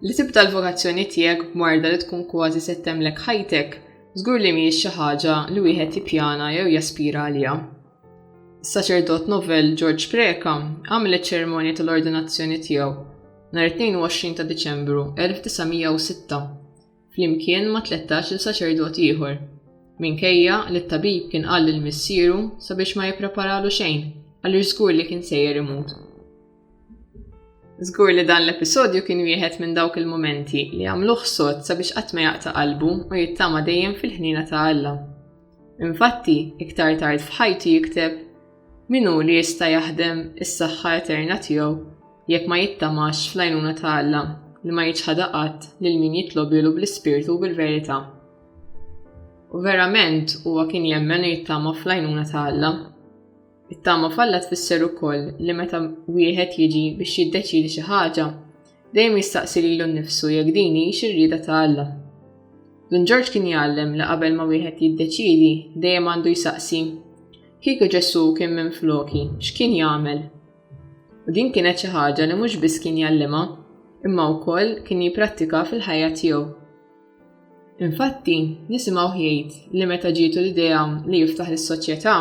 Li tibda l-vokazzjoni tiegħek b'marda li tkun kważi se temlek ħajtek, żgur li mhijiex xi ħaġa li wieħed jippjana jew jaspira għaliha. Is-saċerdot novel George Preka għamel iċ-ċerimonja tal-ordinazzjoni tiegħu nhar 22 ta' Diċembru 1906. flimkien ma' tlettax-il saċerdot ieħor, minkejja li t-tabib kien qal lil missieru sabiex ma jippreparalu xejn għaliex żgur li kien sejjer imut. Żgur li dan l-episodju kien wieħed minn dawk il-mumenti li għamluh sod sabiex qatt ma jaqta' qalbu u jittama dejjem fil-ħniena ta' Alla. Infatti, iktar tard f'ħajtu jikteb, Min hu li jista' jaħdem is-saħħa eterna tiegħu jekk ma jittamax fl-għajnuna ta' Alla li ma jiċħada qatt lil min jitlobilu bl-ispirtu u bil-verità. U verament huwa kien jemmen u jittama fl-għajnuna ta' Alla. It-tama f'Alla tfisser ukoll li meta wieħed jiġi biex jiddeċidi xi ħaġa, dejjem jistaqsi lilu nnifsu jekk din hi xirrieda ta' Alla. Dun Ġorġ kien jgħallem li qabel ma wieħed jiddeċidi dejjem għandu jsaqsi. Kieku Ġesù kien minn floki, x'kien jagħmel? U din kienet xi ħaġa li mhux biss kien jallima, imma wkoll kien jipprattika fil-ħajja tiegħu. Infatti, nisimgħu jgħid li meta ġietu l-idea li jiftaħ lis-soċjetà,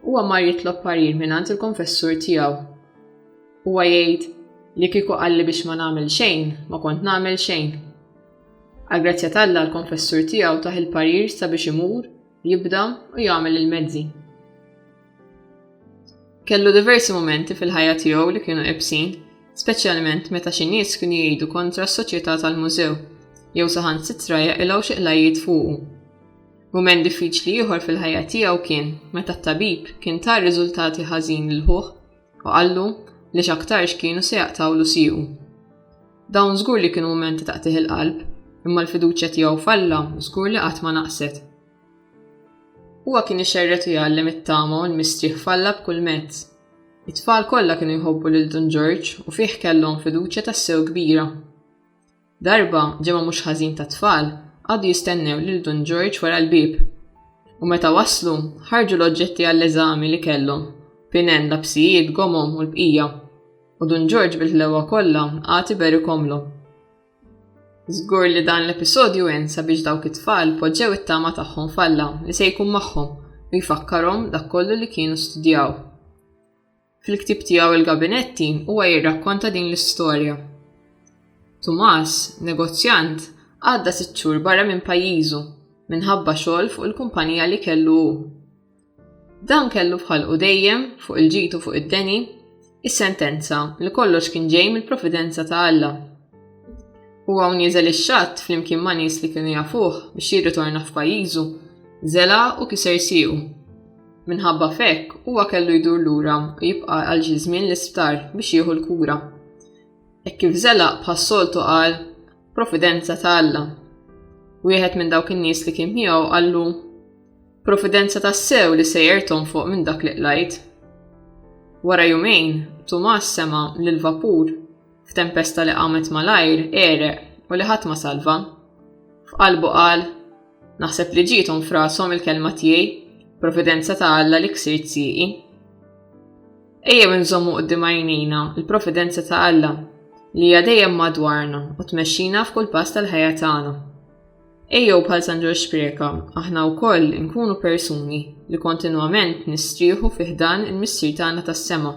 huwa mar jitlob parir mingħand il-konfessur tiegħu. Huwa jgħid li kieku qalli biex ma nagħmel xejn, ma kont nagħmel xejn. Għal grazzja talla l-konfessur tiegħu taħ il-parir sabiex imur Jibda u jagħmel il-mezzi. Kellu diversi momenti fil-ħajja tiegħu li kienu ebsin, speċjalment meta xi nies kienu jgħidu kontra s-soċjetà tal-mużew jew saħan sitra jaqilgħu xi qlajjiet fuqu. Mument diffiċli ieħor fil-ħajja tiegħu kien meta t-tabib kien tar riżultati ħażin lil ħuh u qallu li x'aktarx kienu se jaqtgħu l-usiju. Dawn żgur li kienu mumenti ta' qtih il-qalb, imma l-fiduċja tiegħu f'Alla żgur li qatt ma naqset. Huwa kien ixerret u jgħallem it-tama u l-mistrieħ f'Alla b'kull mezz. It-tfal kollha kienu jħobbu lil Dun Ġorġ u fih kellhom fiduċja tassew kbira. Darba, ġemgħa mhux ħażin ta' tfal qagħdu jistennew lil Dun Ġorġ wara l-bieb. U meta waslu, ħarġu l-oġġetti għall-eżami li kellhom, pinen, lapsijiet, gomom u l-bqija. U Dun Ġorġ bil-ħlewwa kollha għad iberikomlhom. Żgur li dan l-episodju għen sabiex dawk it-tfal poġġew it-tama tagħhom falla li se jkun magħhom u jfakkarhom dak kollu li kienu studjaw. Fil-ktib tiegħu il-gabinetti huwa jirrakkonta din l-istorja. Tumas, negozjant, għadda sitt xhur barra minn pajjiżu minħabba xogħol fuq il-kumpanija li kellu hu. Dan kellu f'ħalqu dejjem, fuq il-ġid u fuq id-deni, is-sentenza li kollox kien ġej mill-providenza ta' Alla. U hawn nieżel ix-xatt flimkien ma' nies li kienu jafuh biex jirritorna f'pajjiżu, żela u kiser siequ. Minħabba fekk huwa kellu jdur lura u jibqa' għal xi żmien l-isptar biex jieħu l-kura. Hekk kif żela bħas-soltu qal providenza ta' Alla. Wieħed minn dawk in-nies li kien miegħu qallu Providenza tassew li sejjer tonfoq minn dak li qlajt. Wara jumejn, Tumas sema li l-vapur, f'tempesta li qamet malajr, ereq u li ħadd ma salva. F'qalbu qal, Naħseb li ġietom frasom il-kelma tiegħi, providenza ta' Alla li ksirt sieqi. Ejjew inżommu qudiem għajnejna l-providenza ta' Alla li hija dejjem madwarna u tmexxina f'kull pass tal-ħajja tagħna. Ejjew bħal San Ġorġ Spreka, aħna wkoll inkunu persuni li kontinwament nistrieħu fi ħdan il-Missier tagħna tas-sema.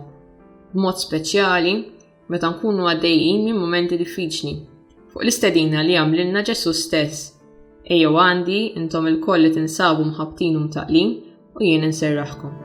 B'mod speċjali, meta nkunu għaddejjin minn mumenti diffiċli, fuq l-istedina li għamlilna Ġesù stess. Ejjew għandi intom il-koll li tinsabu mħabtin u mtaqlin u jien inserraħkom.